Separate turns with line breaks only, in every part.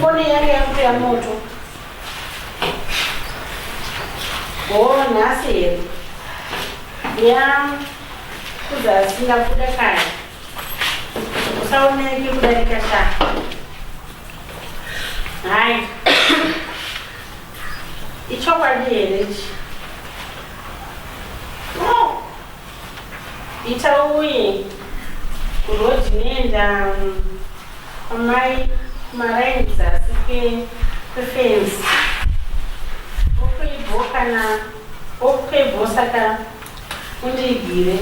Fone yake yakuto ya moto. Oh, nhasi here. Ya kuzasi ndabuda kare. Usaoneke kudarika sha. Hai. Ichokwadi here ichi? Ita uye kurhodhi nenda amai maraini dzasi kwefenzi okuibho kana okuibho saka undiigire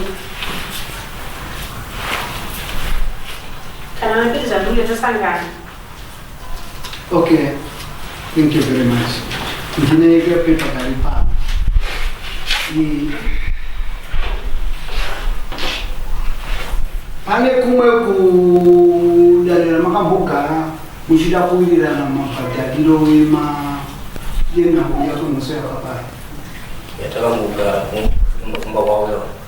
kana napiri zvandunge tosangana Okay, thank you very much. Ndine kapepa kari pano. Ni- Pane kumwe kudanira makambogara muchida kuwirirana mabhadhariro ema yenhau yakonoso yakapara.
yatakangogara kumba kwauya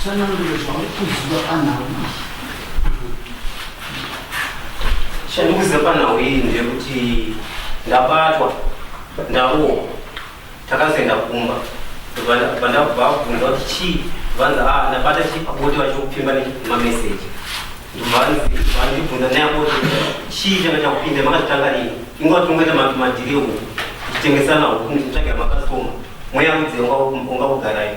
Tsanangure zvauri kuziva panhau iyi. Chandikuziva panhau iyi ndeyekuti ndabatwa ndarohwa takazoenda kumba vandakubva vabvunza kuti chii vanzi a ndabata chii pabote vachikupfimba nemameseji ndovanibvunza nayaboti chii changa chakupinda makazvitanga rini inguva tinongoita madhiri ehuku tichitengesana huku ndichitsvagira makastoma mweya rudzengwa ungakugarai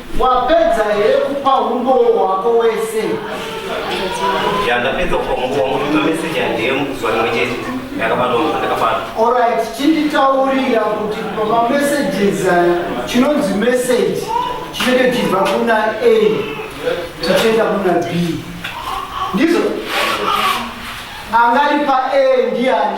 Wapedza here kupa umboo hwako wese? Ya, ndapedza kupa umboo wangu kupa message yandeye mukuzuva rimwe chete ndakabata unhu andakabata. Alright,
chinditaurira kuti pama messages aya chinonzi message chinenge chibva kuna A chichienda kuna B. Ndizvo angari pa A ndiani?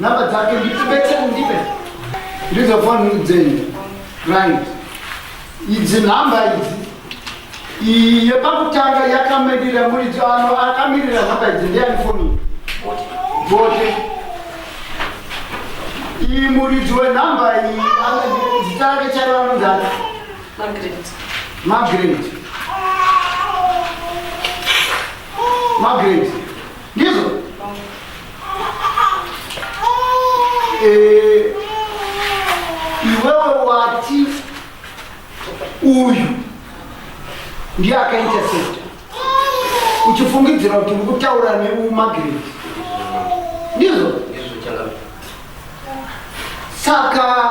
Number dzake nditibete ndipe. Ndizo phone dzenyu. Right. Idzi number idzi. Iyi yepakutanga yakamirira muridzi ano akamirira number idzi ndiyani phone iyi. Bote. Iyi muridzi wenumber iyi ana- zita rake chaiva anondani. Margaret. Margaret. Margaret. Ndizvo. Eh, iwewe wati uyu ndiye akaintercepta uchifungidzira kuti uri kutaura neumagireti ndizvo saka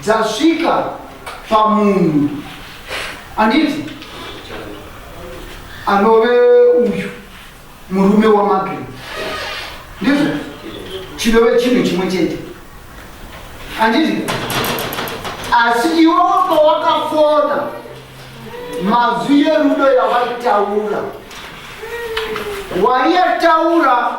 dzasvika pamunhu anditi anove uyu murume wamagre ndizvo chinove chinhu chimwe chete anditi asi iwe pawakafona mazwi yerudo yawaitaura waiyataura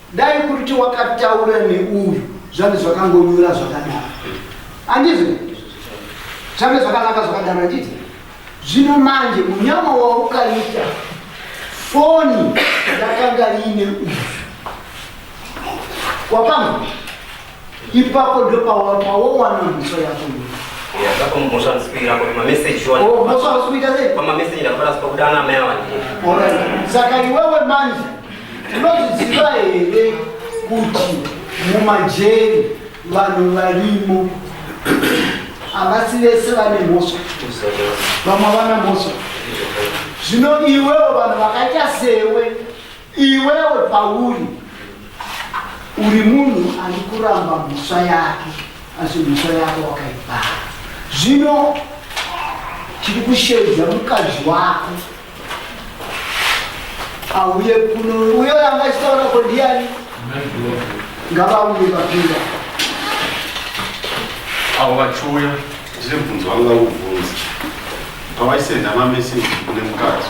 Dai kuti wakataura neuyu zvange zvakangonyura zvakadaro. Andizvo? Zvange zvakanaka zvakadaro andizvo? Zvino manje munyama waukaita foni yakanga ine uyu. Wapamwe? ipapo ndopawawawano mhosva yako
saka
iwewe manje tinozviziva here kuti mumajeri vanhu varimo havasi vese vane mhosva vamwe vana mhosva zvino iwewo vanhu vakaita sewe Iwewe pauri uri munhu ari kuramba mhosva yake asi mhosva yako wakaibhara zvino tiri kusheedza mukadzi wako auye kuno uyo yanga achitaura ko ndiani ngavauye vapinda
avo vachiuya ndine bvunzo vanga kuvhunza pavaisenda mameseji kune mukadzi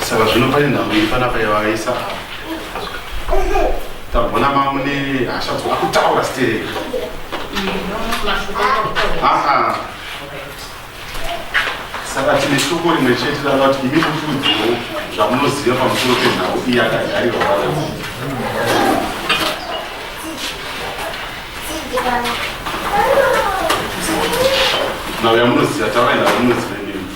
saka zvino pane nhambo iri panapa yavaisa tagona mamune hasha dzoda kutaura stere aa saka tine shoko rimwe chete rava kuti imi mukuudziwo zvamunoziva pamusoro penhau iyi akagarirwa vanai nhau yamunoziva taurai nhau yamunoziva imimi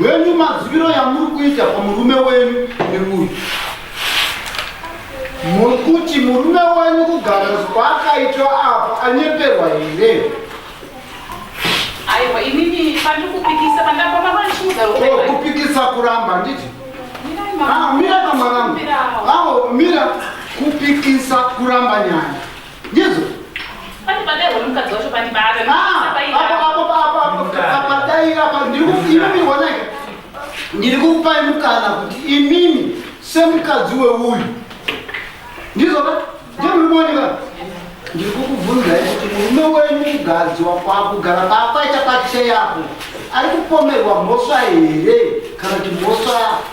wenyu maziviro yamuri kuita pamurume wenyu nemuyu muri kuti murume wenyu kugara kwaakaitwa apo anyeperwa here aiwa inini
pandiri
kupikisa pandabama vandichiuzaupikisa oh, kuramba nditi mira kamwanangu ah, awo oh, mira kupikisa kuramba nyaya Jesu. Pane padai
wemukadzi wacho pani baba. Ah, apa apa apa apa padai apa
ndiri kufiwa mi wana. Ndiri kupa mukana kuti imimi semukadzi weuyu. Ndizvo ba? Ndiri muboni ba. Ndiri kukubvunza kuti murume wenyu mukadzi wako akugara paapaita pacheya apo. Ari kupomerwa mhosva here kana kuti mhosva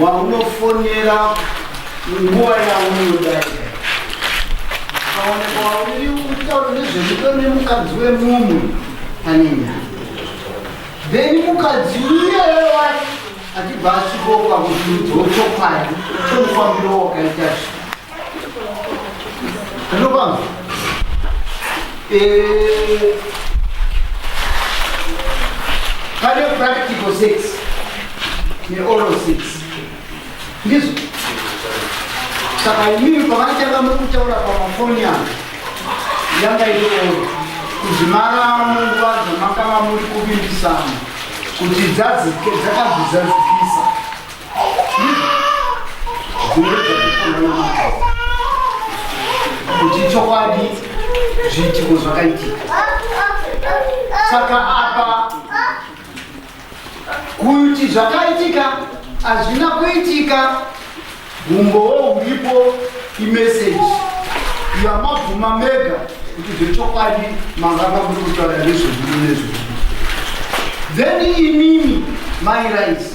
waunofonera nguva yaunoda ukaoneka wauri kutaura nezvemudo nemukadzi wemumwe pane nyaya then mukadzi uyeye wacho achibva asvikoka kuti udzochokwadi chomufambiro wakaita zvi Eh, pane practical sex neoral sex ndizvo saka imimi pavanotanga muri kutaura pamafoni avo yanga itooro kuzvimara munguva dzamakava muri kuvimbisana kuti dzakazvizadzikisa kuti chokwadi zviitiko zvakaitika saka apa kuti zvakaitika hazvina kuitika humbowo huripo imeseji yamabvuma mega kuti zvechokwadi manga makuri kutaura nezvedu nezvedu then imimi mairaisi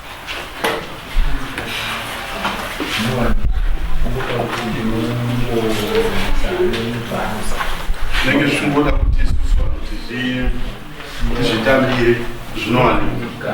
zvinenge zvichimboda kuti isusu vanhu tizvitambire zvinowanika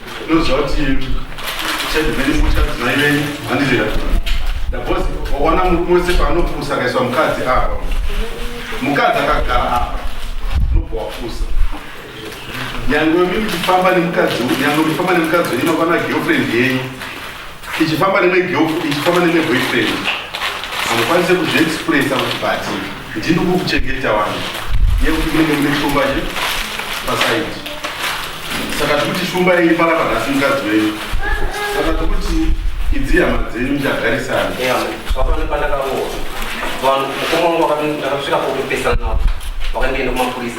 Unoziva kuti uchadi mene kutya kuti mai venyu handizira. Ndabozi waona murume wese paanopusa akaiswa mukadzi apa. Mukadzi akagara apa. Unobva wapusa. Nyangwe mimi kufamba nemukadzi, nyangwe kufamba nemukadzi wenyu nokwana girlfriend yenyu. ichifamba nemwe girlfriend ichifamba nemwe boyfriend hamukwanise kuzviexpressa kuti but ndini kukuchengeta wani yekuti kunenge mune shumba che pasaidi saka tikuti shumba iyi pala panhasi mukadzi wenyu saka tikuti idzi hama dzenyu muchagarisana zvapano pandakaroa vanhu mukoma wangu ndakasvika kokupesana navo vakandienda kumapurisa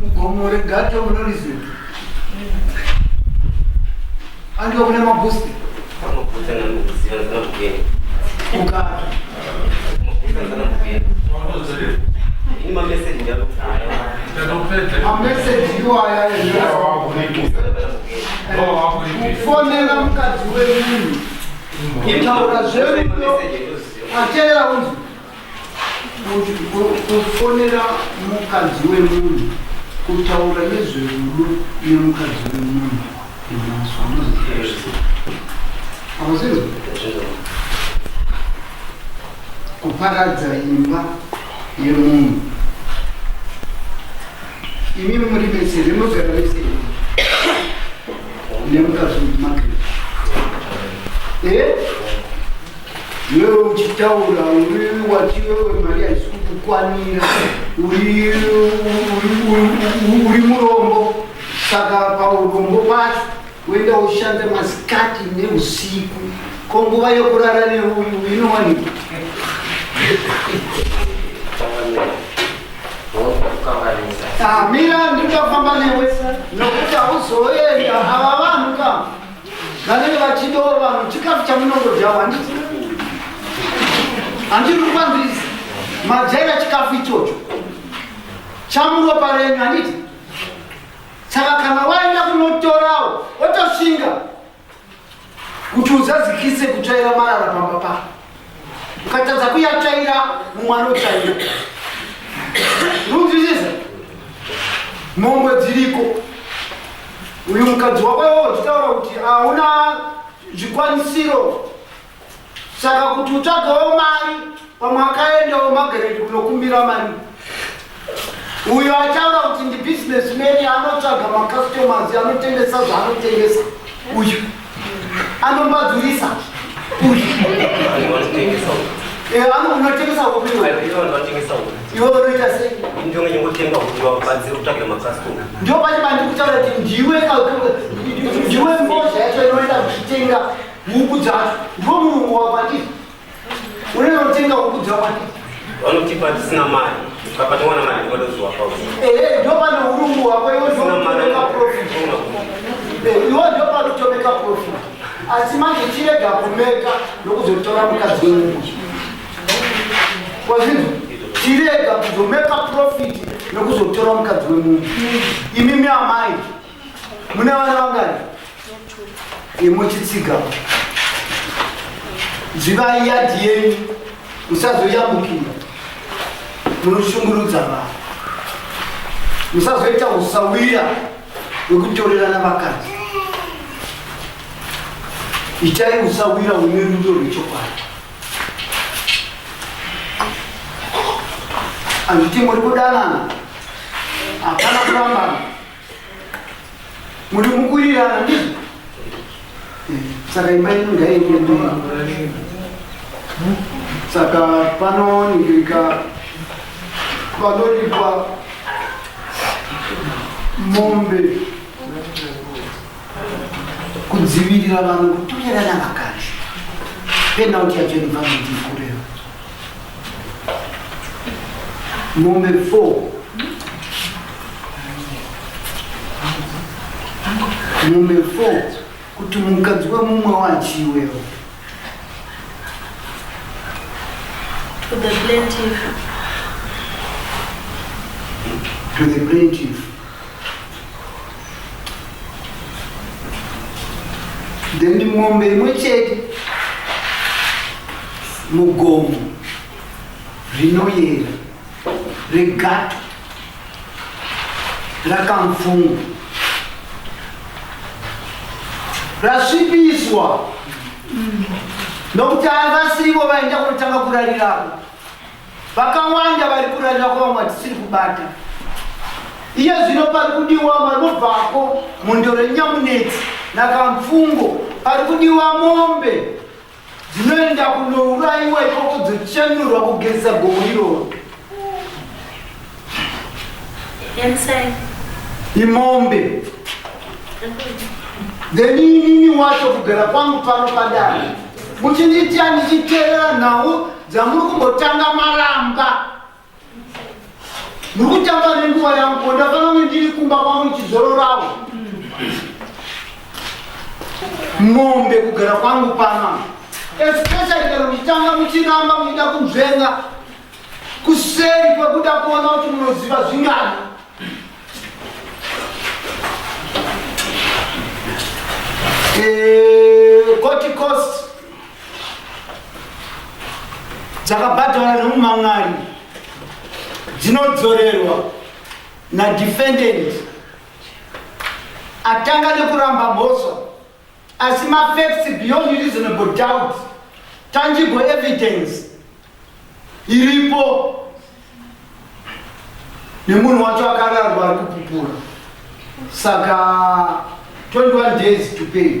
mugomo regato munoriziva andiwa kune mabhusti ukati
mameseji iwaya eafonera mukadzi
wemunhu kutaura zverudo ateera unzi kufonera mukadzi wemunhu kutaura nezverudo nemukadzi wemunhu amazvinzi kuparadza imba yemunhu Imi muri vese rinogara vese nemukadzi make eh? iwewe uchitaura uri wati iwewe mari haisi kukukwanira uri murombo saka paurombo pacho Kuenda ushanda masikati neusiku ko nguva yokurara neuyu inowanikwa. Ah, mira ndikafamba newe nokuti hauzoenda hava vanhu ka vanenge vachidawo vanhu chikafu chamunongodyawo handiti handiri kupanzirisa madyaira chikafu ichocho chamuropa renyu handiti Saka kana waenda kunotorawo otoshinga kuti uzadzikise kutsvaira marara pamba pako. Ukatadza kuyatsvaira mumwe anotsvaira. Unonzwisisa? Mombe dziriko. Uyu mukadzi wako iwowo uchitaura kuti hauna zvikwanisiro saka kuti utsvagawo mari pamwe akaendawo mageredi kunokumbira mari uyo ataura kuti ndi business many anotsvaga macustomers anotengesa zvaanotengesa uyu anombadzurisa uyu eh, anotengesa iwe unoita seindopati bandikutaura kuti ndiwe ndiwe mbozha yacho inoenda kuchitenga Huku dzacho ndiwo murungu wakwandiri unonotenga huku dzakwandiri vanotipa
tisina mari ukapatiwana mari ndikatoziwakao ehe ndopano
urungu wako iwe ndokutomeka profit Eh, iwe ndopanotomeka profit asi manje chirega kumeka nokuzotora mukadzi wemunhu kwazvinhu chirega kuzomeka profit nokuzotora mukadzi wemunhu imimi amai mune vana vangani imuchitsiga dzivai yadhi yenyu musazoyambukira munoshungurudza vanhu musazoita usawira wekutorerana vakadzi itai usawira une rudo rwechokwadi anditi muri kudanana hapana kurambana Muri mukurirana ndizvo? Saka imba ino ngaiende mberi. Saka panoningirika panoripwa mombe kudzivirira vanhu kutorerana vakadzi penalty yacho inobva mudii kureva Mombe 4 mombe 4 kuti mukadzi wemumwe wachi iwewo
to the plaintiff
to the plaintiff then mombe imwe chete mugomo rinoyera regato rakamfungwa rasvipiswa nokuti havasivo vaenda kunotanga kurarirapo Vakawanda vari kurarira kwa vamwe dzisiri kubata. Iye zvino pari kudiwa vanobvako mundo renyamunetsi nakamfungo pari kudiwa mombe dzinoenda kunourayiwa ikoko dzochenurwa kugezesa gomo iroro. Yensai. Imombe. Then inini wacho kugara kwangu pano padare. Muchindiitira ndichiteerera nhau dzamuri kumbotanga maramba muri kutamba nenguva yangu ko ndafana kunge ndiri kumba kwangu ndichizororawo mombe kugara kwangu pana especially kana muchitanga muchiramba muchida kunzvenga kuseri kwekuda kuona kuti munoziva zvingani eh, goticost dzakabhadhara nemumamwari dzinodzorerwa nadefendant atanga nekuramba mhosva asi mafacts beyond reasonable doubt tangible evidence iripo nemunhu wacho akararwa ari kupupura saka 21 days to pay